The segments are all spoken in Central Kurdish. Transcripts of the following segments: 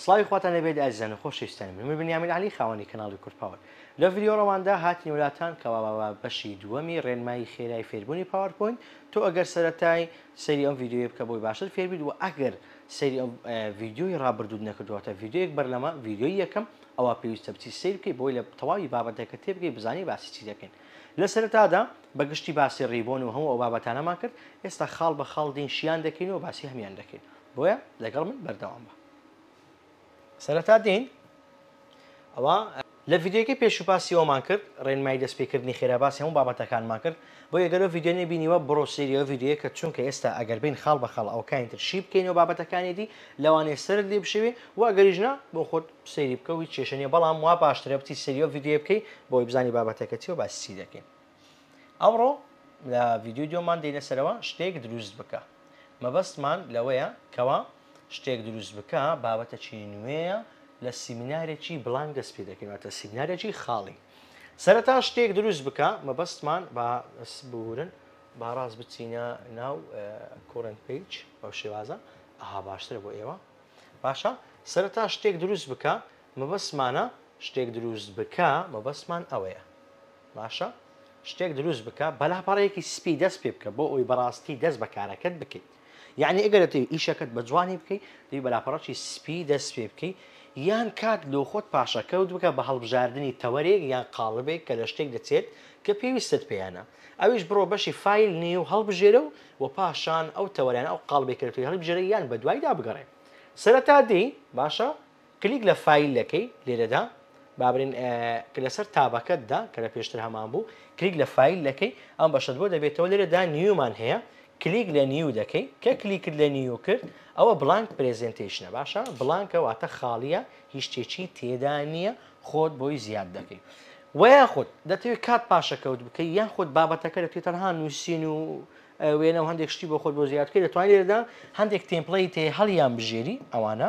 سڵاوی خواتان لێ بێت ئازیزان و خۆشەویستانی من من بنیامین عەلی خاوەنی کەناڵی کورد پاوەر لەو ڤیدیۆ ڕەواندا هاتینە لاتان کەوا با با بەشی دووەمی ڕێنمایی خێرای فێربوونی پاوەر پۆینت تۆ ئەگەر سەرەتای سەیری ئەم ڤیدیۆیە بکە بۆی باشتر فێر بیت وە ئەگەر سەیری ئەم ڤیدیۆی ڕابردووت نەکردووە واتە ڤیدیۆیەک بەر لەمە ڤیدیۆی یەکەم ئەوا پێویستە بچی سەیر بکەی بۆی لە تەواوی بابەتەکە تێبگەی بزانی باسی چی دەکەین لە سەرەتادا بە گشتی باسی ڕیبۆن و هەموو ئەو بابەتانەمان کرد ئێستا خاڵ بە خاڵ دێین شیان دەکەین و باسی هەمیان دەکەین بۆیە لەگەڵ من بەردەوام بە سەرەتا دێین ئەوە لە ڤیددیوەکەی پێشوپاسی ئەومان کرد ڕێنمای دەستپێکردنی خێراباسی هەموو بابەتەکانمان کرد بۆ یەگەلو ڤیددیۆنی بینیوە بڕۆ سریەوە ڤیددیوە کە چونکە ئێستا ئەگەر بین خاڵ بە خاڵ ئەوکانی تر شی بکەینەوە بابەتەکانی دی لەوانەیە سرت لێ بشێوێ و ئەگەریژنا بۆ خۆت سەیری بکەوی کێشەنیە بەڵام وا باشترە بچی سریەوە ڤیددیو بکەی بۆی بزانی بابەتەکە چی و باسی چی دەکەین ئەمڕۆ لە ڤیدیۆی دووەمان دێینە سەرەوە شتێک دروست بکە مەبەستمان لەوەیە کەوا شتێک دروست بکە بابەتە چی نوێیە لە سیمینارێکی بڵنگ دەست پێ دەکەینەوەتە سیمینارێکی خاڵی سەرەتا شتێک دروست بکە مەبەستمان بە بورن باڕاست بچینە ناو کۆرن پیج ئەو شێوازە ئەها باشترە بۆ ئێوە باشە سەرەتا شتێک دروست بکە مەبەستمانە شتێک دروست بکە مەبەستمان ئەوەیە باشە شتێک دروست بکە بە لاپەڕەیەکی سپی دەست پێ بکە بۆ ئەوی بەڕاستی دەست بە کارەکەت بکەیت یعنی ئەگەر دەتەوی ئیشەکەت بە جوانی بکەیت دی بە لاپەڕەکی سپی دەست پێ بکەیت یان کات لۆ خۆت پاشەکەوت بکە بە هەڵبژاردنی تەوەرێک یان قاڵبێک کە لە شتێک دەچێت کە پێویستت پێیانە ئەویش بڕۆ بەشی فیل نیو هەڵبژێرە و و پاشان ئەو تەوەرانە ئەو قاڵبێکەکەی هەڵبژێرە یان بە دوایدا بگەڕێ سەرەتا دی باشە کلیک لە فایل دەکەی لێرەدا با برێن کە لەسەر تابەکەتدا کە لە پێشتر هەمان بوو کلیک لە فایل دەکەی ئەم بەشت بۆ دەبێتەوە لێرەدا نیومان هەیە کلیک لە نیو دەکەی کە کلیکت لە نیو کرد ئەوە بلانک پرزنتیشنە باشە بلانکە واتە خاڵیە هیچ شتێکی تێدا نییە خۆت بۆی زیاد دەکەی ویاخود دەتەوێت کات پاشەکەوت بکەی یاخود بابەتەکە دەتوێت تەنها نووسین و وێنە و هەندێک شتی بۆ خۆت بۆ زیادکەی دەتوانێت لێرەدا هەندێک تێمپڵی تێ هەڵیان بژێری ئەوانە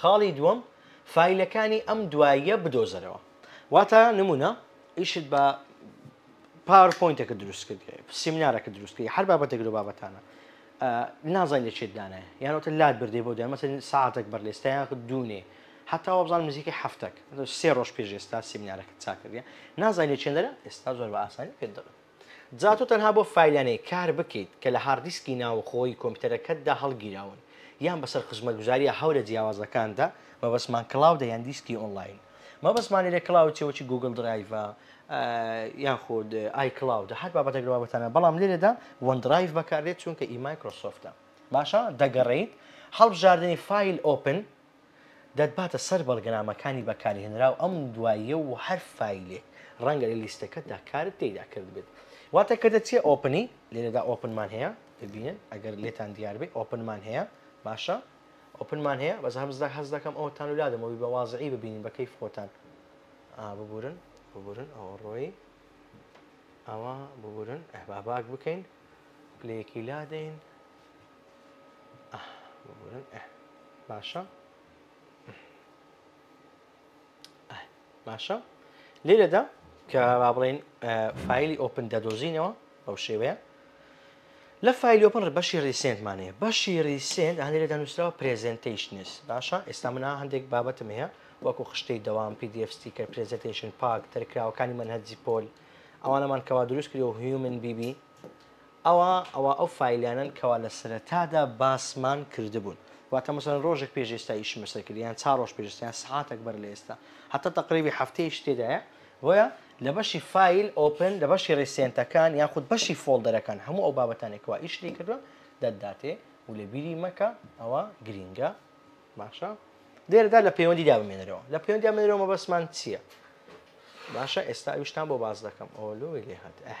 خاڵی دووەم، فایلەکانی ئەم دواییە بدۆزەرەوە. واتە نمونە ئیشت بە پاوەر پۆینتێکت دروست کرد، سیمینارەکە دروست کردی، هەر بابەتێک لەو بابەتانە. نازانی لە چێت دانایە یانەوەتە لات بردێ بۆ دەمەسە ساعتێک بەر لێستا یاخ دوونێ هەتا وابزان نزیکە هەفتەک سێ ڕۆژ پێش ئێستا سیمینارەکە چاکردە نازای لە چێندەرە ئێستا زۆر بە ئاسانی پێ دەڵێت جا تۆ تەنها بۆ فایلانەی کار بکەیت کە لە هاڕدیسکی ناوەخۆی کۆمپیوتەرەکەتدا هەڵگیراون یان بەسەر خزمەتگوزارییە هەورە جیاوازەکاندا، مەبەستمان کلاودە یان دیسکی ئۆنلاین، مەبەستمان لێرە کلاود چییە وەکی گووگڵ درایڤە یان خود ئای کلاودە هەر بابەتێک لە بابەتانە بەڵام لێرەدا وەن درایڤ بەکاردێت چونکە ئی مایکرۆسۆفتە. باشە دەگەڕێیت هەڵبژاردنی فایل ئۆپن. دەتباتە سەر بەڵگەنامەکانی بەکارهێنراو ئەم دواییە و هەر فایلێک ڕەنگە لە لیستەکەتدا کارت تێیدا کردبێت. واتە کە دەچیە ئۆپنی، لێرەدا ئۆپن مان هەیە، ببینن ئەگەر لێتان دیار بێ ئۆپن مان هەیە، باشە ئۆپن مان هەیە، بەس هەست دەکەم ئەوەتان و لادەم وەبی بە وازعی ببینین بە کەیف خۆتان. ئا ببورن ببورن ئەوە ڕۆیی ئەوە ببورن ئەهبا باک بکەین پلەیەکی لادەین. باشە باشە لێرەدا کە با بڵێن فیلی ئۆپن دەدۆزینەوە بەو شێوەیە لە فیلی ئۆپن بەشی ریسنتمانەیە بەشی ریسنت هەندێکدا نووسراوە پرزنتیشنس باشە ئێستا منە هەندێک بابەتم هەیە وەکو خشتەی دەوام پDF ستیکە پرزنتیشن پاک تەرکراوەکانی من هەرجی پۆل ئەوانەمان کەوا دروستکرەوە هیومن بیبی ئەوا ئەوا ئەو فایلانەن کەوا لە سەرەتادا باسمان کردبوون واتە مەسەلەن ڕۆژێک پێش ئێستا ئیشم لەسەر کرد یان چار ڕۆژ پێش ئێستا یان سەعاتەک بەر لە ئێستا هەتا تەقریبی هەفتەیەش تێدایە بۆیە لە بەشی فایل ئۆپن لە بەشی ڕیسێنتەکان یاخود بەشی فۆڵدەرەکان هەموو ئەو بابەتانێک کەوا ئیش لێ کردووە دەتداتێ و لە بیری مەکە ئەوە گرینگە باشە لێرەدا لە پەیوەندیدا بمێنەرەوە لە پەیوەندی بمێنەوە مەبەستمان چییە باشە ئێستا ئەویشتان بۆ باس دەکەم ئەوە لۆی لێ هات ئەه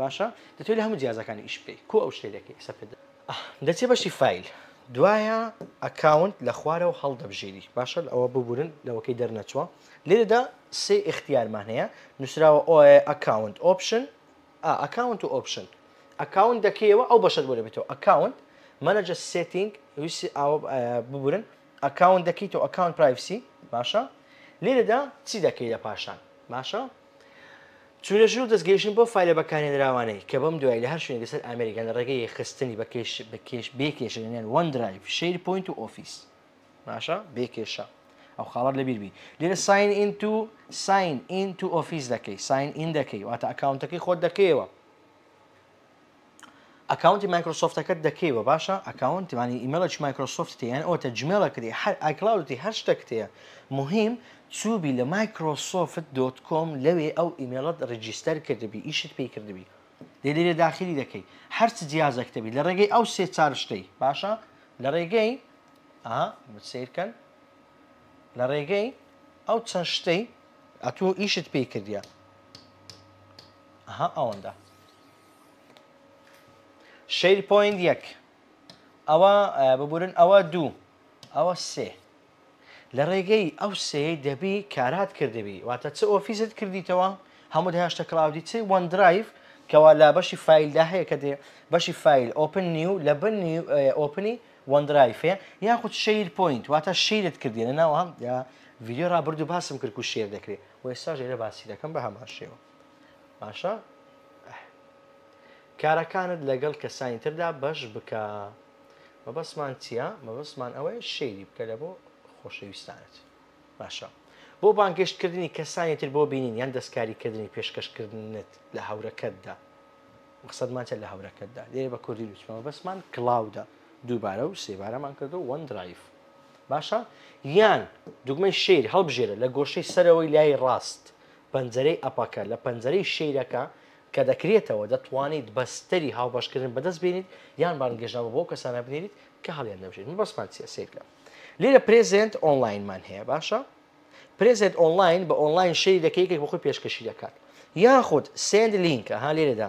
باشە دەتوێ لە هەموو جیازەکانی ئیش بکەی کۆ ئەو شتێ دەکەی ئێستا پێت دەچێ بەشی فیل دوایە ئەکاونت لە خوارەوە هەڵدەبژێری باشە ئەوە ببورن لەوەکەی دەرنەچووە لێرەدا سێ اختیارمان هەیە نووسراوە ئۆە ئەکاونت ئۆپشن ئەکاونت و ئۆپشن ئەکاونت دەکەیەوە ئەو بەشت بۆ دەبێتەوە ئەکاونت مەنەجە سێتینگ ویسی ئاوە ببورن ئەکاونت دەکەیتەوە ئەکاونت پرایسی باشە لێرەدا چی دەکەی لە پاشان باشە چونە ژوور دەستگەیشتن بەو فایلە بەکارهێنراوانەی کە بەم دوای لە هەر شوێنێک لەسەر ئامێرێک یان لە ڕێگەی یەکخستنی بە کێش بە کێش بێ کێشە لەنێوان وەن درایڤ، شەیر پۆینت و ئۆفیس. باشە بێ کێشە ئەو خاڵەت لەبیر بی لێرە ساین ئین تو ساین ئین تو ئۆفیس دەکەی ساین ئین دەکەی واتە ئەکاونتەکەی خۆت دەکەیەوە ئەکاونتی مایکرۆسۆفتەکەت دەکەیوە باشە ئەکاونت مانی ئیمەڵێکی مایکرۆسۆفت تێیان ئەوە تە جمێڵە کرێ هەر ئایکلاودی هەر شتەک تێە مهم چوبی لە مایکرۆسۆفت دۆت کۆم لەوێ ئەو ئیمێڵت ڕیجیستەر کردبی ئیشت پێی کردبی لێ لێرێ داخلی دەکەی هەرچ جیازەکتەبی لە ڕێگەی ئەو سێ چار شتەی باشە لە ڕێگەی ئا سیرکەن لە ڕێگەی ئەو چەند شتەی ئەتوو ئیشت پێی کردە ئەها ئەوەندە شەیر پۆینت یەک ئەوە ببورن ئەوە دوو ئەوە سێ لە ڕێگەی ئەو سێی دەبی کارات کردبی واتە چ ئۆفیزت کردیتەوە هەموو هێشتە کلااودی چی وەن درایف کەوا لا بەشی فیلدا هەیە کە دێ بەشی فیل ئۆپن نیو لە بن ئۆپنی وەن درایفێ یاخود شیر پوینت واتە شیرت کردێنە ناوە یا ڤیددیو ڕابرد و باسم کرد و شێر دەکرێت و ئێستا ژێرە باسی دەکەم بە هەمان شێوە باشە ئەح. کارەکانت لەگەڵ کەسانی تردا بەش بکە مەبەستمان چییە مەبەستمان ئەوەیە شەیری بکە لە بۆ خۆشەویستانت باشە بۆ بانگەشتکردنی کەسانی تر بۆ بینین یان دەستکاریکردنی پێشکەشکردنت لە هەورەکەتدا مەخصدمانتە لە هەورەکەتدا لێ بە کوردی لوچمەوە بەسمان کلااودە دووبارە و سێبارەمان کردو وەن درایف باشە یان دوگمەی شیر هەڵبژێرە لە گۆشەی سەرەوەی لای ڕاست پەنجەرەی ئەپەکە لە پەنجەرەی شەیرەکە کە دەکرێتەوە، دەتوانیت بەستەری هاوبەشکردن بەدەست بێنیت یان بانگێشتنامە بۆ ئەو کەسانە بنێریت کە هەڵیان دەبژێریت. مەبەستمان چییە؟ سەیر بکە. لێرە پرێزێنت ئۆنلاینمان هەیە، باشە؟ پرێزێنت ئۆنلاین بە ئۆنلاین شەیری دەکەی یەکێک بۆ خۆی پێشکەشی دەکات. یاخود سێند لینک، ئەها لێرەدا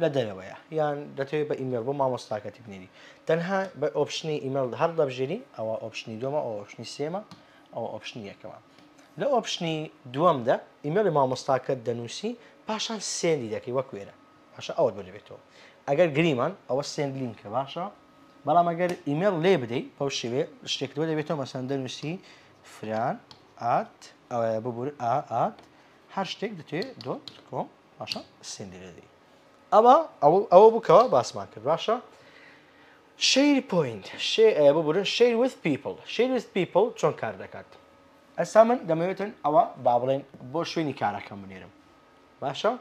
لە دەرەوەیە یان دەتەوێت بە ئیمێل بۆ مامۆستاکەتی بنێری تەنها بە ئۆپشنی ئیمێل هەر دەبژێری ئەوە ئۆپشنی دومە ئەو ئۆپشنی سێمە ئەو ئۆپشنی یەکەمە لە ئۆپشنی دووەمدا ئیمێلی مامۆستاکەت دەنووسی پاشان سێندی دەکەی وەک وێرە باشە ئەوە بۆ دەبێتەوە ئەگەر گریمان ئەوە سێند لینکە باشە بەڵام ئەگەر ئیمێل لێ بدەیت بەو شێوێ شتێکەوە دەبێتەوە مەسەن دەنووسی فران ئات ئەوە ببور ئات هەر شتێک دەتێ دۆت کۆم باشە سندرێدی ئەمە ئەوە بکەوە باسمان کرد باشە شیر پوینت ببورن شیر وث پیپل شیر وث پیپل چۆن کار دەکات ئەسا من دەمەوێتن ئەوە با بڵێن بۆ شوێنی کارەکەم بنێرم باشە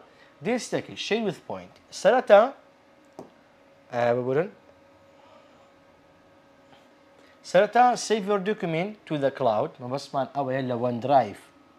دیستەکی شیر وث پوینت سەرەتا ببورن سەرەتا سیڤۆر دوکمین تو دە کلااود مەبەستمان ئەوەیە لە وەندرایف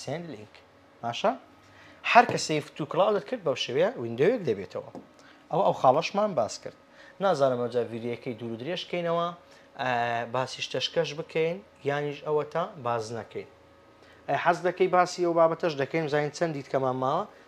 Send link باشە هەر کە سیف تو کلاودت کرد بەو شێوەیە ویندۆیەک دەبێتەوە ئەو ئەو خاڵەشمان باس کرد نازانم ئەوجا ڤیدیەکەی دوور و درێژ کەینەوە باسی شتەشکەش بکەین یانیش ئەوە تا باز نەکەین حەز دەکەی باسی ئەو بابەتەش دەکەین زین چەند دیتکەمان ماوە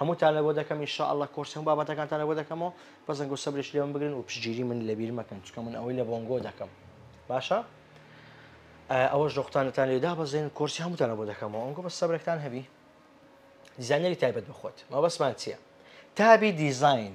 هەمووتان لەبۆ دەکەم ان شاء اللە کۆرسی هەموو بابەتەکانتان لەبۆ دەکەمەوە بەس دەنگۆ سەبرێکی لێ من بگرن و پشگیری من لەبیر مەکەن چکە من ئەوەی لە بۆنگۆ دەکەم باشە ئەوەش دۆختانتان لێ دابەزێن کۆرسی هەمووتانە بۆ دەکەمەوە ئەنگۆ بە سەبرێکتان هەبی دیزانەری تایبەت بخۆت مەبەسمان چییە تابی دیزین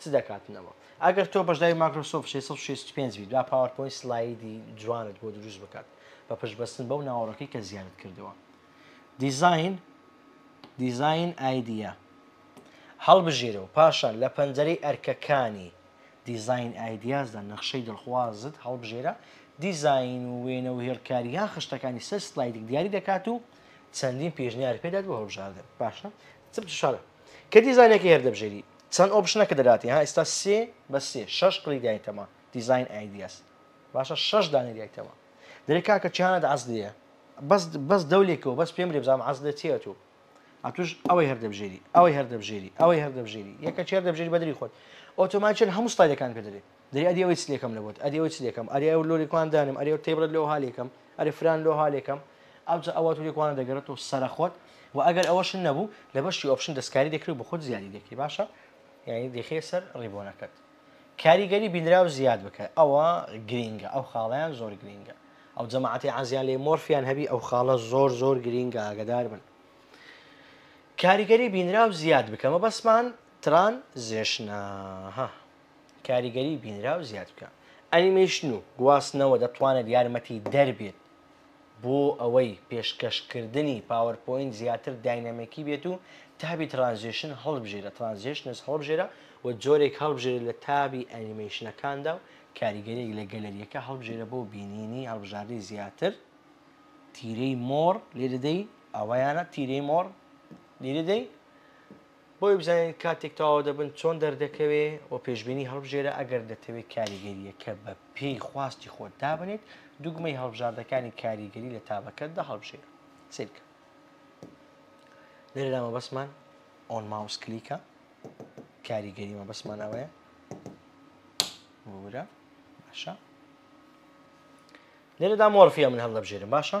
چ دەکاتنەوە ئەگەر تۆ بەشداری ماکرۆسۆفت شەش سەد و شەست و پێنج بیت با پاوەرپۆینت سلایدی جوانت بۆ دروست بکات بە پشتبەستن بەو ناوەڕۆکەی کە زیادت کردووە دیزاین دیزاین ئایدیا هەڵبژێرە و پاشان لە پەنجەرەی ئەرکەکانی دیزاین ئایدیازدا نەخشەی دڵخوازت هەڵبژێرە دیزاین و وێنە و هێڵکاری یان خشتەکانی سەر سلایدێک دیاری دەکات و چەندین پێشنیار پێدات بۆ هەڵبژاردن باشە چ بشارە کە دیزاینەکەی هەر دەبژێری چەند ئۆپشنەکە دەداتی ها ئێستا سێ بە سێ شەش کڵی دایتەمە دیزاین ئایدیاس باشە شەش دانی دایتەمە دەێ کاکە چیانە دەعس دەیە بەس بەس دەولێکەوە بەس پێم لێ بزانام عەز دەچێت و ئەتوش ئەوەی هەر دەبژێری ئەوەی هەر دەبژێری ئەوەی هەر دەبژێری یەکە چێر دەبژێری بەدری خۆت ئۆتۆماچێن هەموو ستایلەکان پێ دەێت دەی ئەدی ئەوەی چ لێکەم لە بۆت ئەدی ئەوەی چ لێکەم ئەرێ ئەو لۆری کوان دانێم ئەرێ ئەو تێبڕت لۆ ها لێکەم ئەرێ فران لۆ ها لێکەم ئەوجا ئەوە توری کوانە دەگەڕێتەوە سەرە خۆت و ئەگەر ئەوەشن نەبوو لە بەشی ئۆپشن دەستکاری دەکرێت بۆ خۆت زیادی دەکەی باشە یعنی دەخێ سەر ڕیبۆنەکەت کاریگەری بینراو زیاد بکە ئەوە گرینگە ئەو خاڵیان زۆر گرینگە ئەو جەماعەتی عزیان لێ مۆرفیان هەبی ئەو خاڵە زۆر زۆر گرینگە ئاگدار بن کاریگەری بینراو زیاد بکەمە بەسمان تران زێشناها کاریگەری بینراو زیاد بکە. ئەنیمەیشن و گواستنەوە دەتوانێت یارمەتیدەر بێت بۆ ئەوەی پێشکەشکردنی پاوەرپۆینت زیاتر داینامیکی بێت و تابی ترانزێشن هەڵبژێرە، Transitions، هەڵبژێرە و جۆرێک هەڵبژێرە لە تابی ئەنیمەیشنەکاندا و کاریگەرییەک لە گەلەرییەکە هەڵبژێرە بۆ بینینی هەڵبژاردەی زیاتر، تیرەی مۆر، لێ دەدەی، ئەوەیانە، تیرەی مۆر، لێ دەدەی. بۆی بزانین کاتێک تەواو دەبن چۆن دەردەکەوێ و پێشبینی هەڵبژێرە ئەگەر دەتەوێت کاریگەریەکە بە پێی خواستی خۆت دابنێت دوگمەی هەڵبژاردەکانی کاریگەری لە تابەکەتدا هەڵبژێرە سیرکە لێرەدا مەبەسمان ئۆن ماوس کلیکە کاریگەری مەبەسمان ئەوەیە بورە باشە لێرەدا مۆرفیە من هەڵدەبژێرم باشە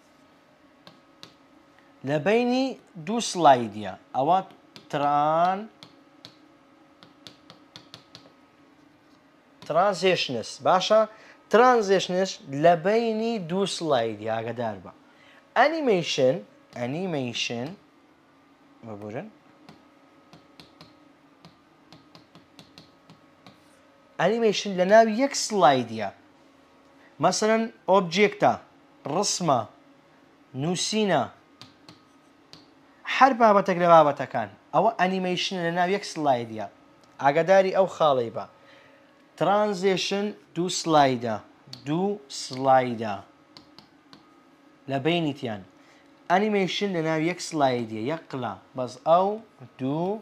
لە بەینی دوو سلایدە ئەوە تران ترانزێشنس باشە ترانزێشنش لە بینی دوو سلایدی ئاگدار بە ئەنیمەیشن ئەنیمەیشن ببورن ئەنیمەیشن لەناو یەک سڵایدیا مەسەلەن ئۆبجێکتە، ڕسمە، نووسینە، هەر بابەتەک لە بابەتەکان ئەوە ئەنیمەیشنە لەناو یەک سڵایدیا ئاگاداری ئەو خاڵەی بە ترانزێشن دوو سڵایدە دوو سڵایدە لە بینیتیان ئەنیمەیشن لەناو یەک سڵایدیە یەک قلە بەس ئەو دوو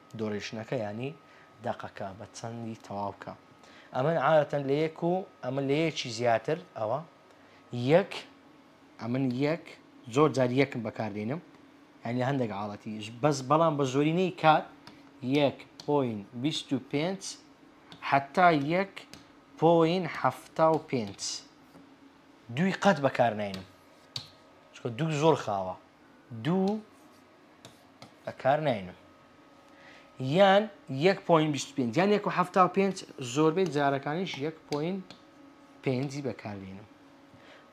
دۆڕیشتنەکە یانی دەقەکە بە چەندی تەواو بکە ئەمن عادەتەن لە یەک و ئەمن لە یەکی زیاتر ئەوە یەک ئەمن یەک زۆر جار یەکم بەکاردێنم یان لە هەندێک عاڵەتی بەس بەڵام بە زۆرینەی کات یەک پۆین بیست و پێنج حتا یەک پۆین حەفتا و پێنج دووی قەت بەکارناینم چکە دوو زۆر خاوە دوو بە کار ناینم یان یەک پوین بیست پێ یان یەک و هەفتا و پێنج زۆربەی جارەکانیش یەک پوین پێنجی بەکاربیێنم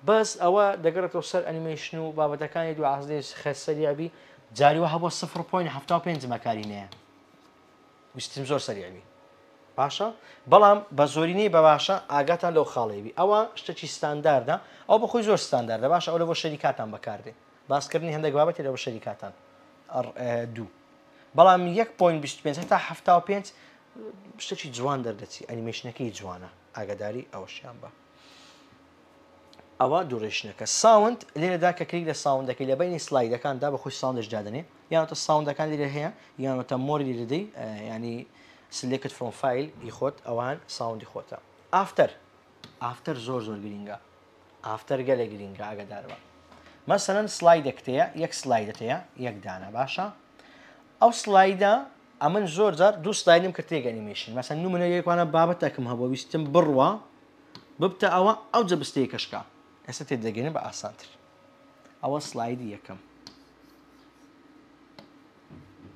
بەس ئەوە دەگەڕێتەوە سەر ئەنیمەیشن و بابەتەکانی دو عزدێش خەسەریابی جاریوە هەبوو سفر پوین هەفتا و پێنج مەکاری نەیە ویستیم زۆر سەریابی باشە بەڵام بە زۆرینەی بە باشە ئاگاتان لەو خاڵێوی ئەوە شتێکی ستانداردە ئەو بەخۆی زۆر ستانداردە باشە ئەو لە بۆ شەریکاتان بەکاردێ باسکردنی هەندێک بابەتی لە بەشەری کاتان دوو بەڵام یەک پوین بیست پێنج هەتا هەفتا و پێنج شتێکی جوان دەردەچی ئەنیمەشنەکەی جوانە ئاگاداری ئەوەشیان بە ئەوە دوورێشنەکە ساوند لێرەدا کە کلیک لە ساوندەکەی لە بینی سلایدەکاندا بە خۆی ساوندش دادنێ یانتە ساوندەکان لێرە هەیە یانەتە مۆری لێدەدەی ینی سلێکت فرۆفایل ی خۆت ئەوان ساوندی خۆتە ئافتەر ئافتەر زۆر زۆر گرینگە ئافتەر گەلێ گرینگە ئاگەداربە. مەسەلەن سلایدێکت هەیە یەک سلایدت هەیە یەک دانە باشە ئەو سلایدە ئەمن زۆر جار دوو سلایدم کرد تێک ئەنیمێشن مەسەن نمونە یەکوانە بابەتەکم هەبوو ویستم بڕوا ببتە ئەوە ئەو جە بستێکەشکا ئێستا تێدەگەێنە بە ئاسانتر ئەوە سلایدی یەکەم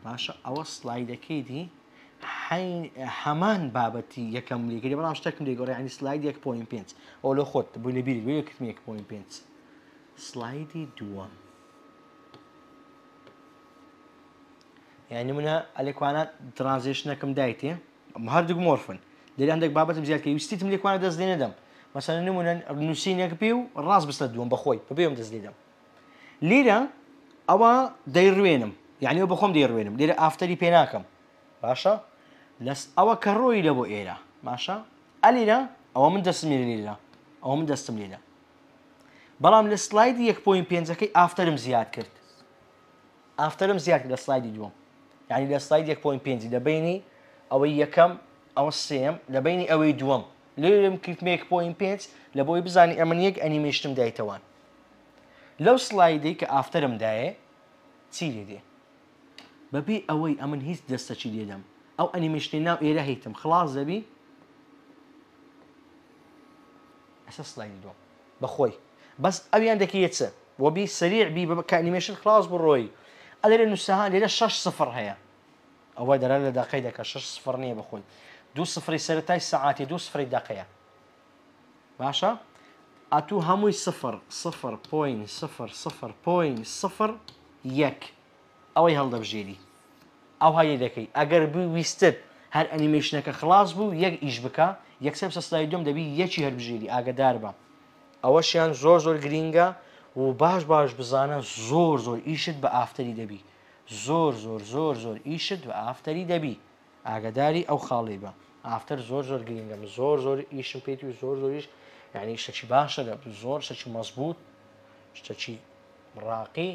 باشە ئەوە سلایدەکەی دی هەمان بابەتی یەکەم لێگەری بەڵام شتەکم لێگەڕی ینی سلاید 1.5 ئەو لە خۆت بووی لە بیری بێ کتمی 1.5 سلایدی دووەم یعنی منە ئەلێکوانە ترانزیشنەکەم دایتێ هەردوو مۆرفن لێرە هەندێک بابەتم زیاد کە ویستیتم لێکوانە دەست لێ نەدەم مەسەن نمونە نووسینەکە پێ و ڕاست بستە دووەم بەخۆی بەبێم دەست لێدەم لیرە ئەوە دەیڕوێنم یعنی ئەو بەخۆم دەیڕوێنم لێرە ئافتەری پێ ناکەم باشە لەس ئەوە کە ڕۆی لە بۆ ئێرە باشە ئەلیرە ئەوە من دەستم لێ لێرە ئەوە من دەستم لێرە بەڵام لە سلایدی یەک پوین پێنجەکەی ئافتەرم زیاد کرد ئافتەرم زیاد لە سلایدی دووەم یعنی لە سلاید یەک پوین پێنجی لە بینی ئەوەی یەکەم ئەوە سێم لە بینی ئەوەی دووەم لێرم کریتمێک پوین پێنج لە بۆی بزانانی ئەمن یەک ئەنیمێشتم دایتەوان لەو سڵایدەی کە ئافتەرم دایێ چی لێ دێ؟ بەبێ ئەوەی ئەمن هیچ دەستەچی لێ دەم ئەو ئەنیمەیشنەی ناو ئێرە هیتم خڵاس دەبی؟ ئەسە سڵایدی دووەم بەخۆی بەس ئەویان دەکەیە چ؟ وەبی سەریع بی بە کە ئەنیمەیشن خڵاس بڕۆی ئەلێرێ نووسەها لێرە شەش سفڕ هەیە ئەوە دەرا لە دەقەی دەکە شەش سفڕ نییە بەخۆی دوو سفری سەرەتای سەعاتی دوو سفری دەقەیە. باشە ئەتوو هەمووی سفر سفر پۆین سفر سفر پۆین سفر یەک ئەوەی هەڵدەبژێری ئەو هەیە دەکەی ئەگەر بووی ویستت هەر ئەنیمەیشنەکە خلاص بوو یەک ئیش بکە یەکسەر سەسلای دوم دەبی یەکی هەربژێری ئاگدار بە ئەوەشیان زۆر زۆر گرینگە و باش باش بزانە زۆر زۆر ئیشت بە ئافتەری دەبی زۆر زۆر زۆر زۆر ئیشت بە ئافتەری دەبی ئاگەداری ئەو خاڵەی بە. ئافتەر زۆر زۆر گرینگە من زۆر زۆر ئیشم پێیتی و زۆر زۆریش یعنی شتەکی باشە لە زۆر شتەکی مەزبوط شتەکی ڕاقی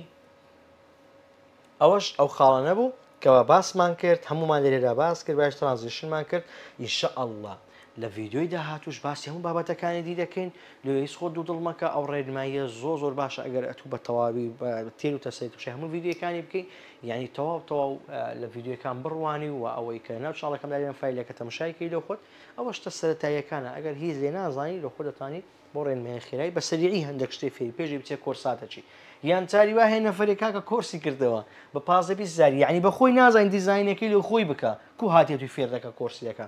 ئەوەش ئەو خاڵە نەبوو کەوا باسمان کرد هەمومان لێرەدا باس کرد باش ترانزیشنمان کرد ان شاء اللە لە ڤیدیۆی داهاتوش باسی هەموو بابەتەکانی دی دەکەین لۆیس خۆ دوو دڵ مەکە ئەو ڕێنماییە زۆ زۆر باشە ئەگەر ئەتوو بە تەواوی تێر و تەسێت بشە هەموو ڤیددیوەکانی بکەین یعنی تەواو تەواو لە ڤیددیوەکان بڕوانی و ئەوەی کە ناو چاڵەکەم داێن فیلەکە تەمەشایکی لە خۆت ئەوە شتە سەتاییەکانە ئەگەر هیچ لێ نازانی لە خۆ دەتانی بۆ ڕێنمای خێرای بە سەریعی هەندێک شتێ فێری پێشی بچێ کۆرساتەچی یان چاری واه نەفرێک کاکە کۆرسی کردەوە بە پازە بیزاری یعنی بە خۆی نازانین دیزینەکەی لە خۆی بکە کو هااتێ توی فێردەکە کۆرسیەکە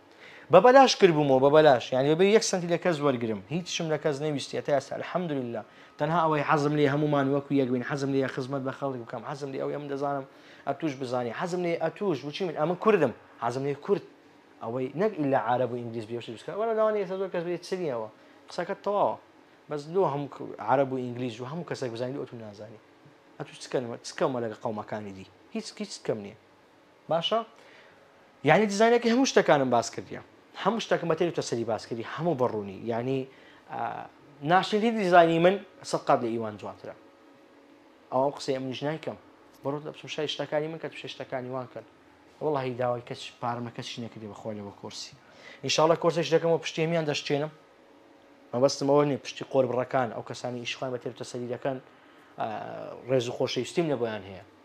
بە بەلاش کردبوومەوە بە بەلاش یعنی بەبێ یەک سەنتی لە کەس وەرگرم هیچشم لە کەس نەویستی هەتا ئێستا الحمدللە تەنها ئەوەی حەزم لێ هەموومان وەکو یەک بین حەزم لێ خزمەت بە خەڵک بکەم حەزم لێ ئەوەی ئەم دەزانم ئەتوش بزانی حەزم لێ ئەتوش بچی من ئەمن کوردم حەزم لێ کورد ئەوەی نەک ئیلا عرب و ئینگلیز بێ شت بکە وەلا لەوانی ئێستا زۆر کەس بێ چریەوە قسەکە تەواوە بەس لۆ هەموو عرب و ئینگلیز و هەموو کەسێک بزانین ئەتو نازانی ئەتوش چکەمە لەگە قەومەکانی دی هیچ هیچ کەم نییە باشە یعنی دیزانەکە هەموو شتەکانم باس کردە هەموو شتەکەم بەتێری تۆ سەری باس کردی هەموو بەڕوونی یعنی ناشنیدی دیزانی من سە قات لە ئیوان جوانترە ئەوم قسەی منیش نایکەم بڕۆ لە بچم شای شتەکانی من کە تو شتەکانی وان کرد وڵی داوای کەس پارمە کەسی نەکردی بەخۆ لەوە کۆرسی ئینشاالله کۆرسش دەکەمەوە پشتێمیان دەشتێنم مەبەستمەوە نیە پشتی قۆر بڕەکان ئەو کەسانی ئیشخوان بە تێرتە سەری دەکەن ڕێز و خۆشەویستیم لە بۆیان هەیە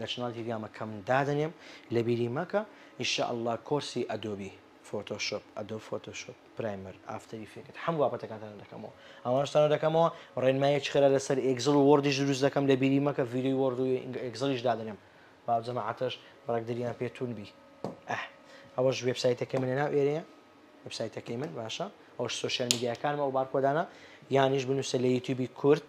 لە چناڵی تیلگرامە کەم دادەنێم لەبیری مەکە ان شاء اللە کۆرسی ئەدۆبی فۆتۆشۆپ ئەدۆب فۆتۆشۆپ پرایمەر ئافتەری فێکت هەموو بابەتەکانتان دەکەمەوە ئەوانشتانە دەکەمەوە ڕێنمایی چ خێرا لەسەر ئێگزڵ و وۆردیش دروست دەکەم لەبیری مەکە ڤیدیۆی وۆرد و ئێگزڵیش دادەنێم با جەماعەتش ڕێک دریان پێ توون بی ئەه ئەوەش وێبسایتەکەی منە ناو ئێرەیە وێبسایتەکەی من باشە ئەوش سوسیال میدیاکانمە و بارکۆدانە یانیش بنووسە لە یوتیوبی کورد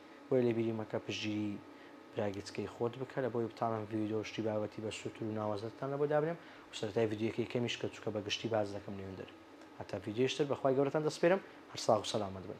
بۆیە لە بیری مەکە پشتگیری برا گچکەی خۆت بکە لەبۆی بتانم ڤیدۆ شتی بابەتی بە سوتر و ناوەزەتتان لەبۆ دابنێم و سەرەتای ڤیدیۆیەکەی کەمیش کە چوکە بە گشتی باس دەکەم نوێندەر هەتا ڤیدیۆی شتر بەخوای گەورەتان دەسپێرم هەر ساغ و سەلامەت بن.